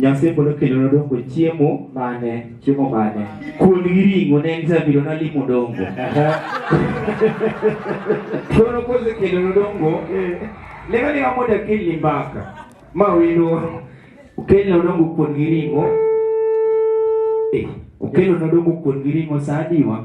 Nyasaye pod okelona dongo chiemo mane chiemo mane kuon gi ring'o ne en zabiro nalimo dongo koro kosekelona dongo leka leka mondo akelni mbaka ma wendo okelna dongo kuon gi ring'o eh, okelona dongo kuon gi ring'o sa adiwa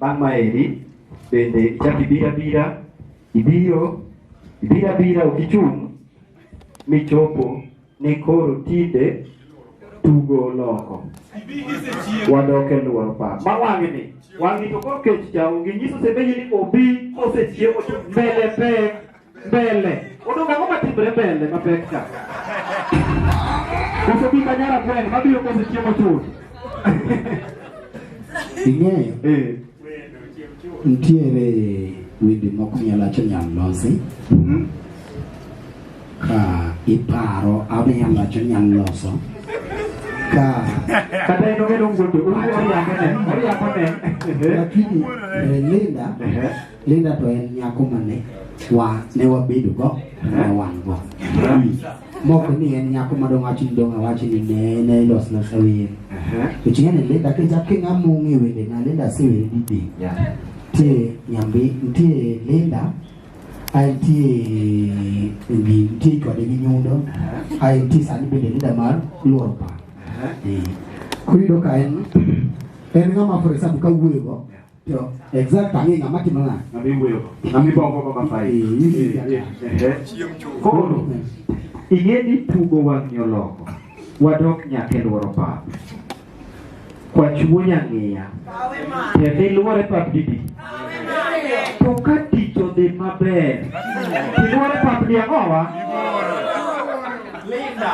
Bang' maeri bende ichak ibiro abira, ibiro ibiro abira ok ichung' michopo ni koro tinde tugo oloko. Wadok e lworo pap. Ma wang'ni, wang'ni to koro kech cha onge nyiso sebeji ni obi kosechiewo to mbele pek. Mbele. Odong' ang'o matimre mbele mapek ka? Koso bi kanyara gweng' mabiro koso chiemo chuth. Ing'eyo? Eh. Nitiere wende moko nyalo acho nyal losi. Mhm. Ka iparo ama nyalo acho nyal loso. Ka Kata en ong'e dong' wuondo. Ong'e oriambo ne. Oriambo ne. Lakini eh, Linda Ehe. Linda to en nyako mane wa ne wabedo go ne wan go moko ni en nyako madong wacho ni dong awacho ni ne ne los na sawer to chinga ne Linda ke ja kinga mungi wende na Linda se wende didi te nyambi te Linda ai ti ngi ti ko de gi nyundo ai ti sani bende Linda mar luor pa kuyudo ka en en ng'ama for example ka wuoyo go To exact ang'e ng'ama timo nang'o. Ng'ama iwuoyo, ng'ama ibongo go mafai. Koro ing'e ni tugo wang'yo loko wadok nyaka e lworo pap kwachuo nyang'iya kendo ilwore pap didi to ka tich odhi maber tilwore pap di ang'owa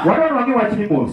wadwa nwangi wach ni mos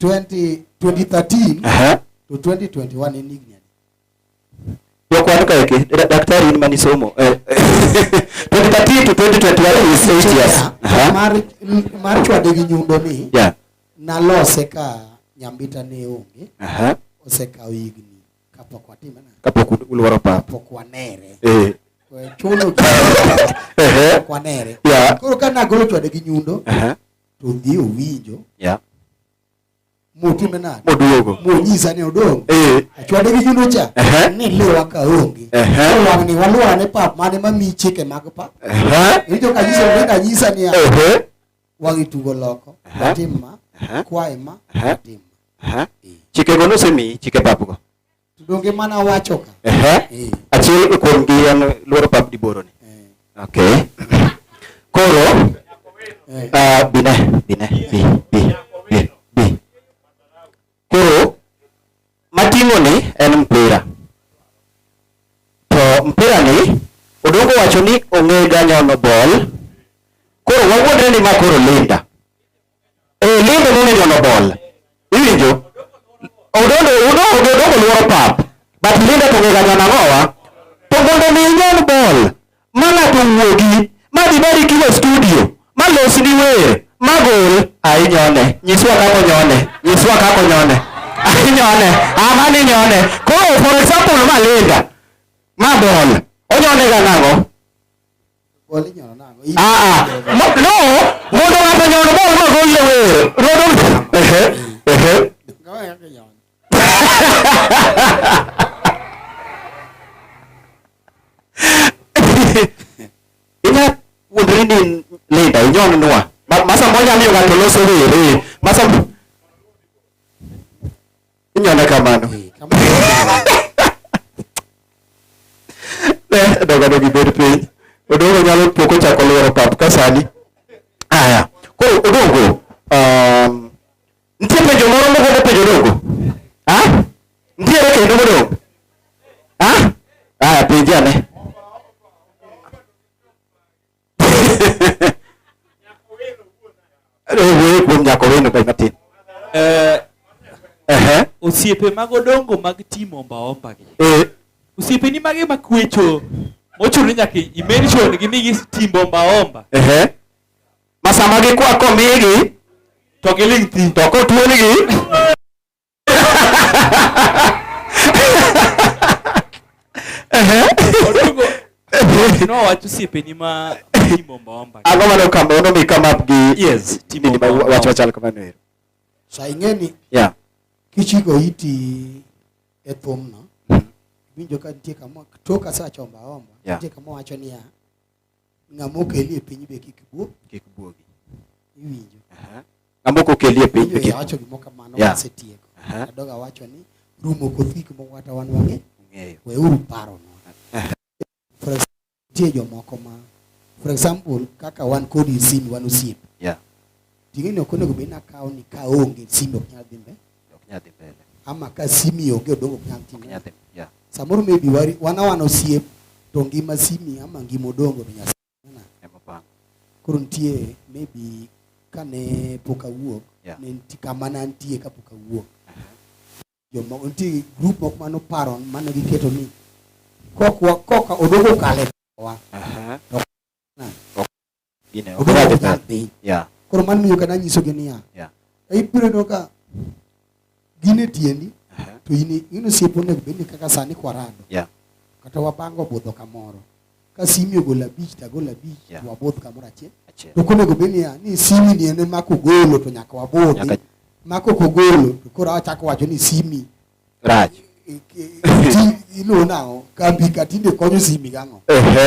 20, 2013 Aha. to 2021 in Ignan. Kwa kuandika yake da- daktari ni manisomo eh, 2013 to 2021 is 8 years Aha. Mar m- mar chwade gi nyundo ni yeah nalose ka nyambita ne onge aha osekawo higni kapok watime na kapok u- ulworo pap kapok wanere eh Kwa chuno ehe kapok wanere yeah koro ka nagolo chwade gi nyundo aha to dhi owinjo yeah. motime nade moduogo monyisa ni odong eh. achwade gi juno cha uh -huh. ni liwa ka onge uh -huh. wang ni walwara ne pap mane ma mi chike mag pap uh -huh. iwinjo ka nyiso ni ka nyisa ni uh -huh. wangi tugo loko uh -huh. tim ma uh -huh. kwae ma uh -huh. tim ma uh -huh. chike go nosemi chike pap go Donge mana wacho ka. Ehe. Eh. Achiel kuom gi en luoro pap di boro ni. Eh. Okay. Koro eh. ah bine bine bi bi bi bi. Koro matingo ni en mpira. To mpira ni odongo wacho ni ong'e ganyono bol. Koro wawuondre ni ma koro Linda. Eh, lendo nene nyono bol. Iwinjo? Odondo odondo odondo luoro pap. But Linda to ngega nyana ngowa. To mondo mi nyon bol. Mana to wuogi. Ma di bari kilo studio. Ma los ni wer. Ma gol. Ai nyone. Nyiswa kako nyone. Nyiswa kako nyone. Ai nyone. Ama ni nyone. Koro for example ma Linda. Ma bol. Onyone ga nango. Ah, ah. no, no, mondo ng'ato nyono bol ma goyie wero. Rodo. Ehe. Ehe. Ina wuodri ni lida inyon nwa. Masa moja miyo ng'ato loso were. Masa Inyalo kamano. Ne dogo dogo ibed piny. Odongo nyalo pok ochako lworo pap ka sani. Aya. Koro odongo. Um, nitie penjo moro mogombo penjo odongo? Ha? Nitiere kendo modongo? Ha? Aya penje ane. Wuoyo kuom nyako wendo kae matin. Eh, Ehe. osiepe mag odongo mag timo ombaomba gi Eh, osiepeni mage makwecho mochuno nyaka imention gi migi timbo ombaomba ehe. Masama gikwa komigi to giling thi to kotuonigi Ang'o mane okamba ono mi come up gi yes timo ni wacho chal kamano ero. Sa ing'eni. Yeah. Kichiko iti e thumno. Mm-hmm. Winjo ka nitie kama tok asachomba omba. Nitie kama wacho niya. Ng'ama okeli e piny be kik buo. Kik buogi. Iwinjo. Aha. Ng'ama ok okeli e piny be kik. Awacho gimoro kamano yeah. asetieko. Aha. Adogo awacho ni rumo koth gik moko kata wan wang'e. Ng'eyo. We uru paro no. For example, tie jomoko ma for example kaka wan kodi sin wan osiep. Yeah. Ting'eni ok onego bed nakawo ni ka onge sime ok nyal dhi mbele. Ok nyal dhi mbele. Ama ka simi onge odongo ok nyal timo. Ok nyal dhi. Yeah. Samoro maybe wari wana wana osiep to ngima simi ama ngima odongo to nyasa. Ema bang. Koro nitie maybe kane pok awuok yeah. ne nitie kama ne antie ka pok awuok. Joma nitie group moko mano paro mane giketo ni kokwa koka odongo kale wa. Uh -huh. Gine, ok Obedo nyal nyal dhi. dhi. Yeah. Koro mano miyo kata anyisogi niya, Yeah. "E, ibiro neno ka gin e tiendi Uh-huh. to in i- in osiepo onego bed ni kaka sani kwarado Yeah. kata wabango budho kamoro ka simi ogolo abich to agolo abich Yeah. to wabudh kamoro achiel Achiel. to konego bed niya ni simi ni en ema kogolo to nyaka wabudhi Nyaka- ma kok ogolo to koro achako wacho ni simi rach iluwo nang'o kambi ka tinde konyo simi gang'o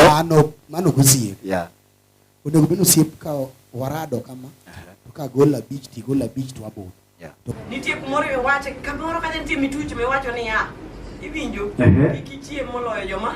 mano mano gosiep onego bed osiep ka warado kama to ka gol abich ti gol abich to aboro nitie kumoro iwache kamoro kata nitie mituch miwacho niya iwinjo kik ichiem moloyo joma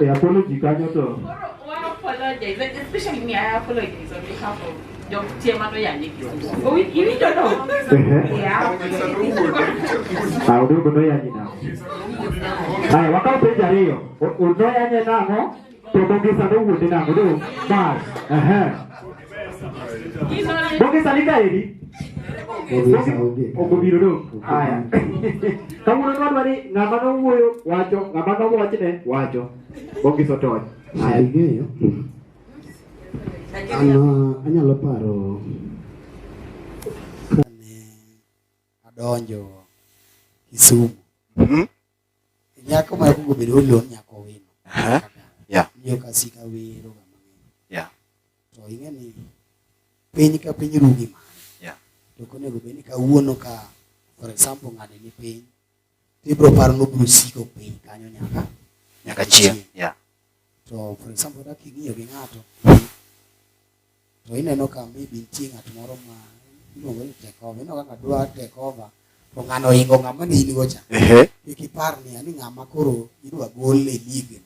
E apology kanyo to. Audogo noyanyi nang'o? Haya, wakaw penjo ariyo. Noyanye nang'o? To Bongisa nowuondi nang'o? Mas. Ehe. Bunge salika hili. Okubiro do. Haya. Kama unaona watu wali ngamba no huyo wacho, ngamba no wacho ne wacho. Bunge sotoy. Haya ngeyo. Ano anyalo paro kane adonjo Kisumu. Mm -hmm. Nyako ma kugo bedo olo nyako wino. Aha. Yeah. Yo kasika wero ga mang'eny. Yeah. To ing'e ni piny ka piny rugi ma. Yeah. To konego bed ni kawuono ka for example ng'ani ni piny to ibiro paro ni obiro siko piny kanyo nyaka nyaka chieng'. Yeah. To for example, dak ing'iyo gi ng'ato to ineno ka maybe nitie ng'at moro ma iluongo ni take over, ineno kaka dwa take over to ng'ano ohingo ng'ama ne in go cha. Kik ipar ni ani ng'ama koro idwa gol e lig.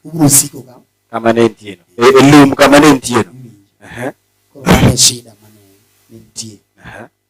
Ubiro siko ka kama ne nitie no. E, e lum kama ne nitie no. Koro mano shida mane nitie.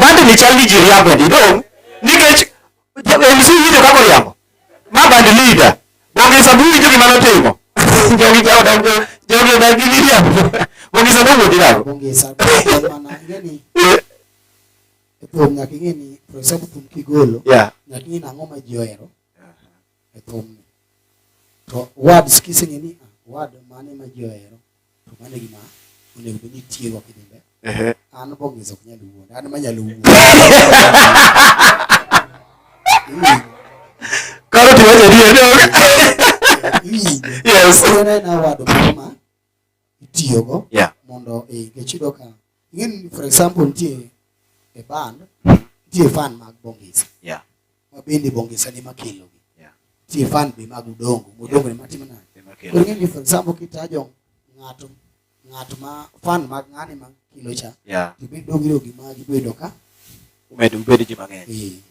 bandini chal ni ji riambo ni dong' nikech MC winjo kaka oriambo ma band leader Bonge Sabu winjo gima notimo jogi jawa dongo jogi odak gi miriambo Bonge Sabu wuodi nako Bonge Sabu mana ngeni thum nyaka ing'e ni Profesa Thum Kigolo nyaka ing'e ni ang'o ma ji ohero e thumni. To words kiseng'e ni ah, word mane ma ji ohero to mano e gima onego bed ni itiyogo kidhi mbele. An bongeza ok nyal wuond, an manyalo wuond. Koro tiwacho adier dong. Iwinjo. Yes. Koro en award moro ma itiyogo yeah. mondo nikech iyudo ka ing'eni for example nitie e band hmm. nitie fan mag bongisa yeah. ma bende bongisa ni makelogi yeah. nitie fan be mag udongo mudongo yeah. ni matimo nade koro ing'eni for example kitajo ng'ato ng'at ma fan mag ng'ani ma kilo cha yeah. to be dongiro gi magi bedo ka umedo ubedo ji mang'eny yeah.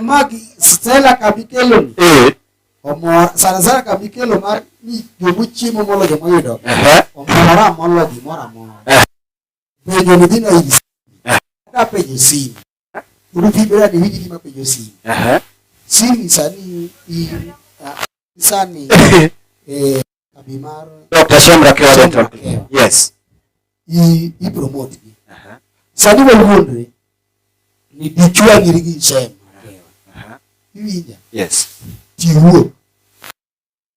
magi Stella kabikelo ni eh. omor sana sana kabikelo mar ni jomo chiemo molo jomo yudo omora molo gimoro amora eh. penjo ni dhino hivi eh. ka penjo simu urutibera ni hivi kima penjo simu simu sani sani eh kambi mar Dr. Shamra Kewa Dental Clinic. Yes. I, i promote gi. Uh -huh. Sani waluondre ni dichwa ngiri gi Shem. Uh -huh. Iwinja? Yes. Tiwuo.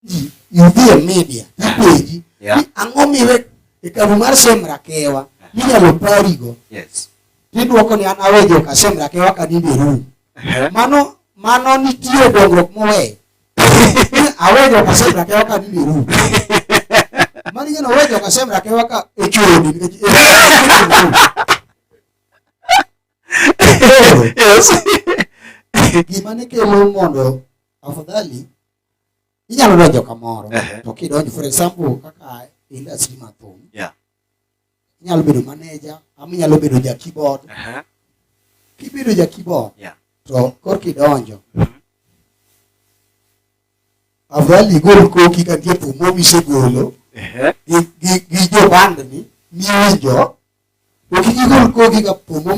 Ji, yudhi e media, ipenji. Yeah. Ang'o miwe e kambi mar Shem Rakewa? Minyalo parigo. Yes. Tidwoko ni an awejo ka Shem Rakewa ka ninde rum. Uh -huh. Mano mano nitie dongruok moweyo. awejo kasem rakewa ka ni biru mani ngeno awejo kasem rakewa ka echoni nikech Yes. gima ne kelo mondo afadhali inyalo donjo kamoro Ehe. to kidonjo for example kaka industry ma thum Yeah. inyalo bedo maneja ama inyalo bedo ja keyboard uh -huh. kibedo ja keyboard yeah. to kor kidonjo mm -hmm. afadhali igol koki ka nitie thum misegolo gi jobandni miwinjo to kik igol koki ka thum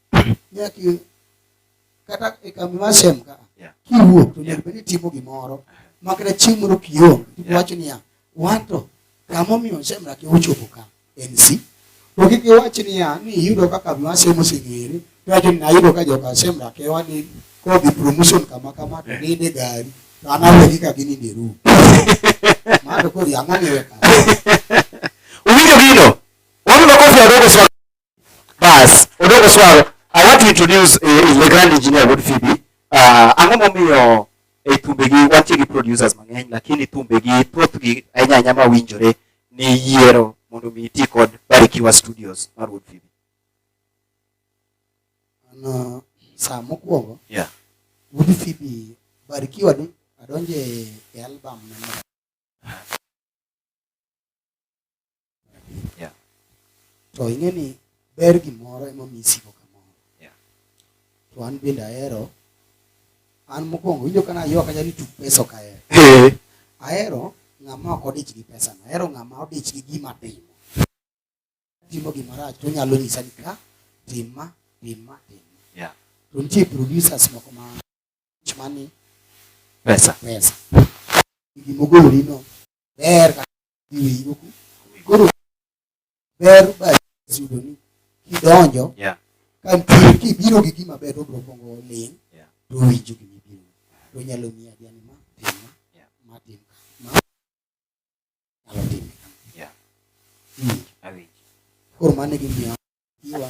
nyaki kata e kambi mar sem ka kiwuok to nyaka bed ni timo gimoro makata chieng' moro kionge iwacho niya wanto kamomiyo semra ki ochopo ka en si to kik iwach niya ni iyudo ka kambi mar sem oseng'ere iwacho ni ayudo ka joka semra ke wani kodhi promotion kama kama to ninde gari to an awegi ka gininde ru mano koro yang'ani weka Owinjo gino? Wabiro kofi adogo Bas, Odogo Swaro, I want to introduce uh, the grand engineer Wood Phoebe. Uh, ang'o momiyo e eh, thumbegi wantie gi producers mang'eny lakini thumbegi thothgi ahinya ahinya ma winjore ni yiero mondo mi iti kod Barikiwa Studios mar Wood Phoebe. Ano uh, saa mokwongo. Yeah. Wood Phoebe Barikiwa ni adonje e album na yeah. to ing'e ni ber gimoro ema mi isiko kamoro yeah. to an bende ahero an mokwongo winjo kana yo kanya ni tuk pesa ok ahero eh. ahero ng'ama ok odich gi pesa no ahero ng'ama odich gi gima timo timo gima rach to nyalo nyisa ni ka timma timma timma yeah. to nitie producers moko ma chmani pesa pesa gimogolino ber iwe yuku koro ber ba yudo ni kidonjo yeah. ka nitie kibiro gi gima ber obro kongo ling yeah. to winjo gi mibiro to nyalo miya diani ma tim ma yeah. ma tim ma nyalo tim yeah. mm. awinjo koro mane gimiyo iwa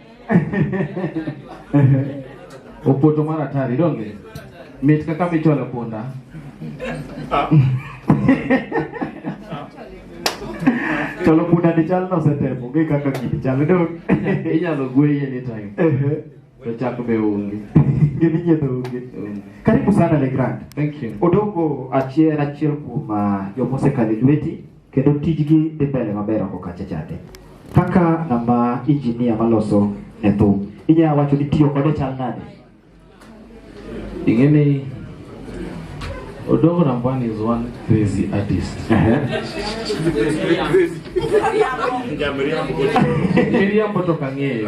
Opoto mar atari donge mit kaka michwalo punda chalo punda ni chal nosetemo onge kaka gini chal dong inyalo gweye anytime to chak be onge gini nyiedho onge karibu sana le grand thank you odongo achiel achiel kuom ah, joma osekalo e lweti kendo tijgi dhi mbele maber oko kacha chande. Kaka ng'ama injinia maloso ne thum, inyalo wacho ni tiyo kode chal nade? Ing'e ni Odongo Rambwani is one crazy artist. Miriambo to kang'eyo.